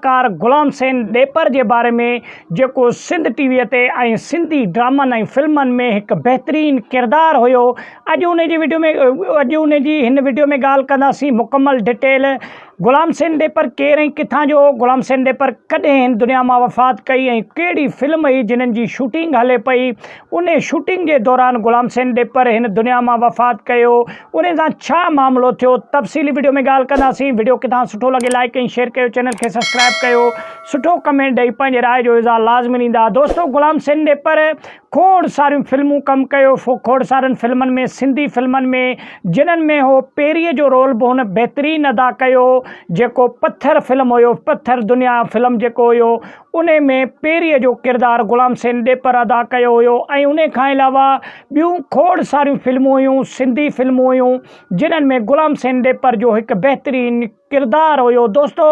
اداڪار غلام حسين ڏيپر جي باري ۾ جيڪو سنڌ ٽي وي تي ۽ سنڌي ڊرامن ۽ فلمن ۾ هڪ بهترين ڪردار هيو اڄ ان جي وڊيو ۾ اڄ ان جي هن وڊيو ۾ ڳالهه ڪنداسين مڪمل ڊٽيل غلام حسين ڏيپر ڪير ۽ ڪٿان جو هو غلام حسين ڏيپر ڪڏهن هن دنيا مان وفات ڪئي ۽ ڪهڙي فلم هئي جنھن جي شوٽنگ هلي پئي انھي شوٽنگ جي دوران غلام حسين ڏيپر هن دنيا مان وفات ڪيو انهي سان ڇا معاملو ٿيو تفصيلي وڊيو ۾ ڳالهه ڪنداسين وڊيو ڪٿان سٺو لڳي لائيڪ ۽ شيئر ڪيو چينل کي سبسڪرائيب ڪيو سٺو ڪمينٽ ڏئي پنهنجي راء جو اظهار لازمي ڏيندا دوستو غلام حسين ڏيپر کوڙ ساريون فلمون ڪم ڪيو کوڙ سارين فلمن ۾ سنڌي فلمن ۾ جنهن ۾ هو پيري جو رول به هن بهترين ادا ڪيو جيڪو پٿر فلم هيو پٿر دنيا فلم جيڪو هيو انهي ۾ پيري جو ڪردار غلام حسين ڏيپر ادا ڪيو هيو ۽ انهي کان علاوه ٻيون کوڙ ساريون فلمون هيون، سنڌي فلمون هيون جنھن ۾ غلام حسين ڏيپر جو هڪ بهترين ڪردار هيو دوستو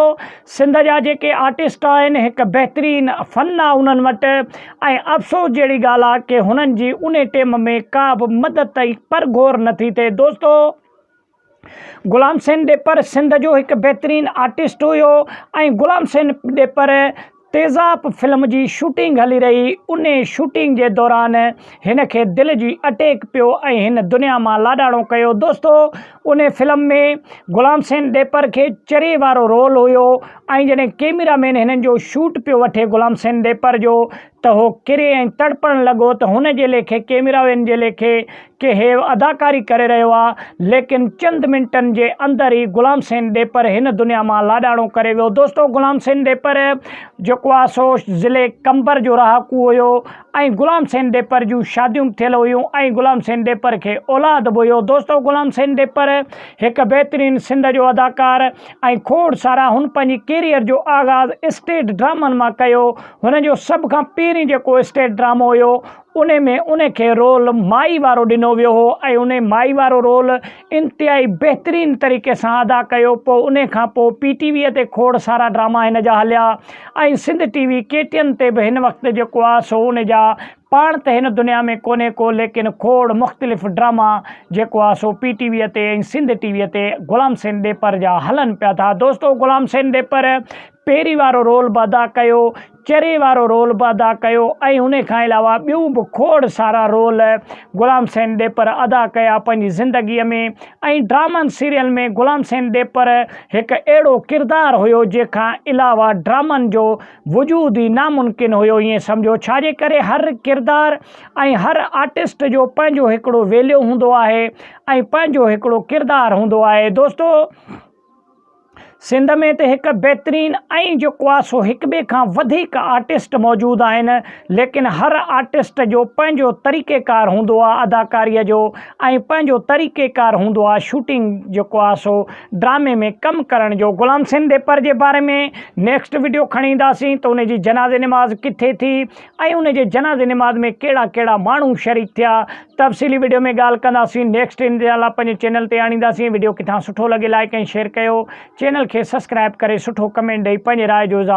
سنڌ جا جيڪي آرٽسٽ آهن هڪ بهترين فن آ انھن وٽ ۽ افسوس جهڙي ڳالھ آ ڪي هنن جي انھي ٽيم ۾ ڪا به مدد ۽ پر گهور نٿي ٿئي دوستو. غلام حسين ڏيپر سنڌ جو هڪ بهترين آرٽسٽ هيو ۽ غلام حسين ڏيپر تيزاب فلم جي شوٽنگ هلي رهي هئي انهي شوٽنگ جي دوران هن کي دل جي اٽيڪ پيو ۽ هن دنيا مان لاڏاڻو ڪيو دوستو انهي فلم ۾ غلام حسين ڏيپر کي چري وارو رول هيو ۽ جڏهن ڪيميرا مين هنن جو شوٽ پيو وٺي غلام حسين ڏيپر جو ته هو ڪري ۽ تڙپڻ لڳو ته هن جي ليکي ڪيميرا وين جي ليکي ڪي هيء اداڪاري ڪري رهيو آ ليڪن چند منٽن جي اندر ئي غلام حسين ڏيپر هن دنيا مان لاڏاڻو ڪري ويو دوستو غلام حسين ڏيپر جيڪو آ سو ضلعي قمبر جو رهاڪو هيو ۽ غلام حسين ڏيپر جون شاديون به ٿيل هيون ۽ غلام حسين ڏيپر کي اولاد به هيو دوستو غلام حسين ڏيپر هڪ بهترين سنڌ جو اداڪار ۽ کوڙ سارا هن پنهنجي ڪيريئر جو آغاز اسٽيج ڊرامن مان ڪيو هن جو سڀ کان پهرين جيڪو اسٽيج ڊرامو هيو ان ۾ ان کي رول مائي وارو ڏنو ويو هو ۽ ان مائي وارو رول انتهائي بهترين طريقي سان ادا ڪيو پوء ان کان پوء پي ٽي ويء تي کوڙ سارا ڊراما هن جا هليا ۽ Sindh T V K T N تي به هن وقت جيڪو آ سو ان جا پاڻ ته هن دنيا ۾ ڪونهي ڪو ليڪن کوڙ مختلف ڊراما جيڪو آ سو پي ٽي ويء تي ۽ سنڌ ٽي ويء تي غلام حسين ڏيپر جا هلن پيا ٿا دوستو غلام حسين ڏيپر پيري وارو رول به ادا ڪيو، چري وارو رول به ادا ڪيو ۽ انهي کان علاوه ٻيون به کوڙ سارا رول غلام حسين ڏيپر ادا ڪيا پنهنجي زندگي ۾ ۽ ڊرامن سيريلن ۾ غلام حسين ڏيپر هڪ اهڙو ڪردار هيو جنهن کان علاوه ڊرامن جو وجود ئي ناممڪن هيو ائين سمجهو ڇاجي ڪري هر ڪردار ۽ هر آرٽسٽ جو پنهنجو هڪڙو ويليو هوندو آهي ۽ پنهنجو هڪڙو ڪردار هوندو آهي دوستو سنڌ ۾ ته هڪ بهترين ۽ جو ڪواسو هڪ ٻئي کان وڌيڪ آرٽسٽ موجود آهن ليڪن هر آرٽسٽ جو پنهنجو طريقي ڪار هوندو آهي اداڪاري جو ۽ پنهنجو طريقي ڪار هوندو آهي شوٽنگ جو ڪواسو ڊرامي ۾ ڪم ڪرڻ جو غلام حسين ڏيپر جي باري ۾ نيڪسٽ وڊيو کڻي اينداسين ته ان جي جنازي نماز ڪٿي ٿي ۽ ان جي جنازي نماز ۾ ڪهڙا ڪهڙا ماڻهو شريڪ ٿيا تفصيلي وڊيو ۾ ڳالهه ڪنداسين نيڪسٽ انشاءالله پنهنجي چينل تي آڻينداسين وڊيو ڪٿان سٺو لڳي لائيڪ ۽ شيئر ڪيو چينل کي سسڪرائب ڪري سٺو ڪمينٽ ڏئي پنهنجي راء جو اظهار